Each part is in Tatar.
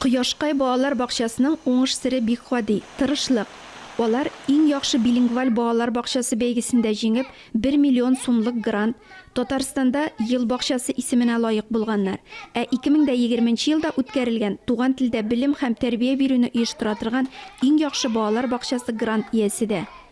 Кояшкай балалар бакчасының уңыш сере бик гади, тырышлык. Алар Иң яхшы билингваль балалар бакчасы бәйгесендә җиңеп, бер миллион сумлык грант, Татарстанда Ел бакчасы исеменә лаек булганнар. Ә 2020 нче елда үткәрелгән Туган телдә белем һәм тәрбия бирүне оештыра торган Иң яхшы балалар бакчасы грант иясе дә.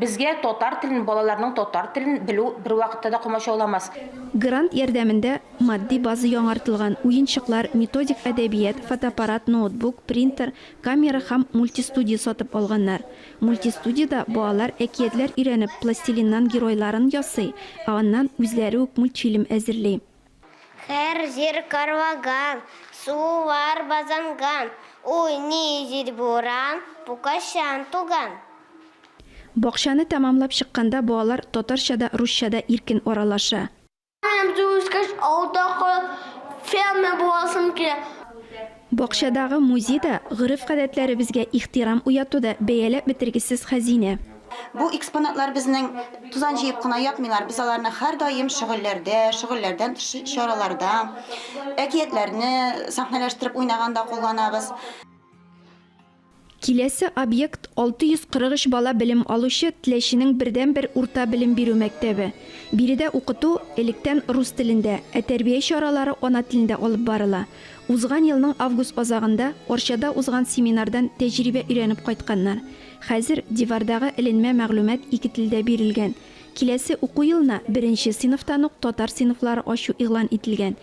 Безгә татар телен, балаларның татар телен белү бервакытта да комачауламас. Грант ярдәмендә матди база яңартылган, уенчыклар, методик әдәбият, фотоаппарат, ноутбук, принтер, камера һәм мультистудия сатып алганнар. Мультистудиядә балалар әкиятләр өйрәнеп, пластилиннан геройларын ясый, ә аннан үзләре үк мультфильм әзерли. Һәр җир карлаган, сулар базанган, Уйный җил буран, пукачан туган. Бакчаны тәмамлап чыкканда балалар татарча да, русча да иркен аралаша. Укуым җитеп үскәч, авылда калып, фермер буласым килә. Бакчадагы музей да, гореф-гадәтләребезгә ихтирам уяту да, бәяләп бетергесез хәзинә. Бу экспонатлар безнең тузан җыеп кына ятмыйлар, без аларны һәрдаим шөгыльләрдә, шөгыльләрдән тыш чараларда, әкиятләрне сәхнәләштереп уйнаганда кулланабыз. Киләсе объект, 643 бала белем алучы Теләченең бердәнбер урта белем бирү мәктәбе. Биредә укыту, электән, рус телендә, ә тәрбия чаралары ана телендә алып барыла. Узган елның август азагында Арчада узган семинардан тәҗрибә өйрәнеп кайтканнар. Хәзер дивардагы эленмә мәгълүмат ике телдә бирелгән. Киләсе уку елына беренче сыйныфтан ук татар сыйныфлары ачу игълан ителгән.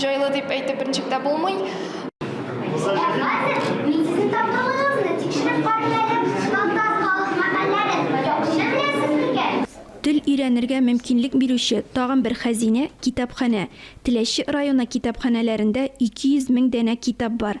Җайлы дип әйтеп берничек тә булмый. Тел өйрәнергә мөмкинлек бирүче тагын бер хәзинә, китапханә. Теләче районы китапханәләрендә 200 мең данә китап бар.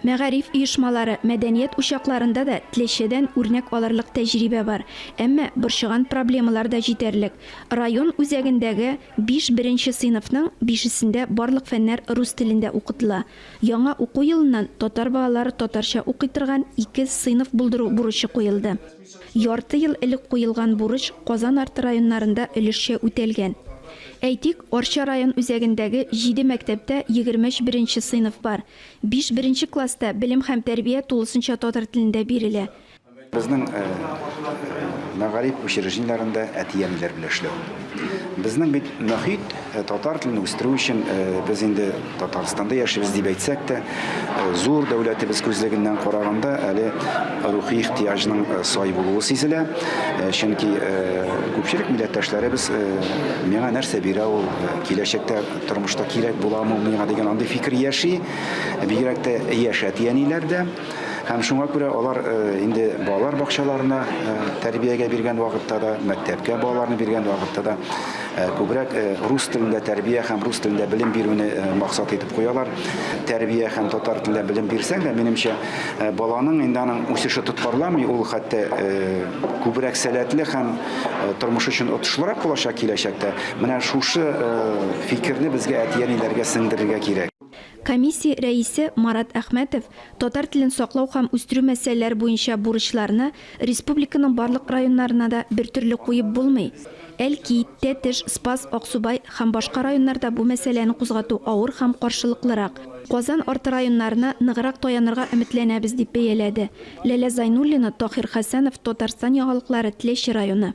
Мәгариф оешмалары, мәдәният учакларында да Тләчедән үрнәк алырлык тәҗрибә бар. Әмма борчыган проблемалар да җитәрлек. Район үзәгендәге биш беренче сыйныфның бишесендә барлык фәннәр рус телендә укытыла. Яңа уку елыннан татар балалары татарча укый торган ике сыйныф булдыру бурычы куелды. Ярты ел элек куелган бурыч Казан арты районнарында өлешчә үтәлгән. Әйтик, Арча район үзәгендәге җиде мәктәптә егерме өч беренче сыйныф бар, Биш беренче класста белем һәм тәрбия тулысынча татар телендә бирелә. Безнең мәгариф учреждениеләрендә әти-әниләр белән эшләү. Безнең бит мөхит татар телен үстерү өчен, без инде Татарстанда яшибез дип әйтсәк тә, зур дәүләтебез күзлегеннән караганда, әле рухи ихтыяҗның сай булуы сизелә. Чөнки күпчелек милләттәшләребез миңа нәрсә бирә ул, киләчәктә Тормышта кирәк буламы миңа дигән андый фикер яши. Бигрәк тә яшь әти-әниләрдә. Һәм шуңа күрә алар э, инде балалар бакчаларына э, тәрбиягә биргән вакытта да, мәктәпкә балаларны биргән вакытта да э, күбрәк рус телендә тәрбия һәм рус телендә белем бирүне максат итеп куялар. Тәрбия һәм татар телендә белем бирсәң дә, минемчә, баланың инде аның үсеше тоткарламый, ул хәтта күбрәк сәләтле һәм тормыш өчен отышлырак булачак киләчәктә. Менә шушы фикерне безгә әти-әниләргә сеңдерергә кирәк. Комиссия рәисе Марат Әхмәтов татар телен саклау һәм үстерү мәсьәләләре буенча бурычларны республиканың барлык районнарына да бертөрле куеп булмый. Әлки, Тәтеш, Спас, Аксубай һәм башка районнарда бу мәсьәләне кузгату авыр һәм каршылыклырак. Казан арты районнарына ныграк таянырга өметләнәбез, дип бәяләде. Ләлә Зайнуллина, Таһир Хәсәнов, Татарстан яңалыклары, Тлещи районы.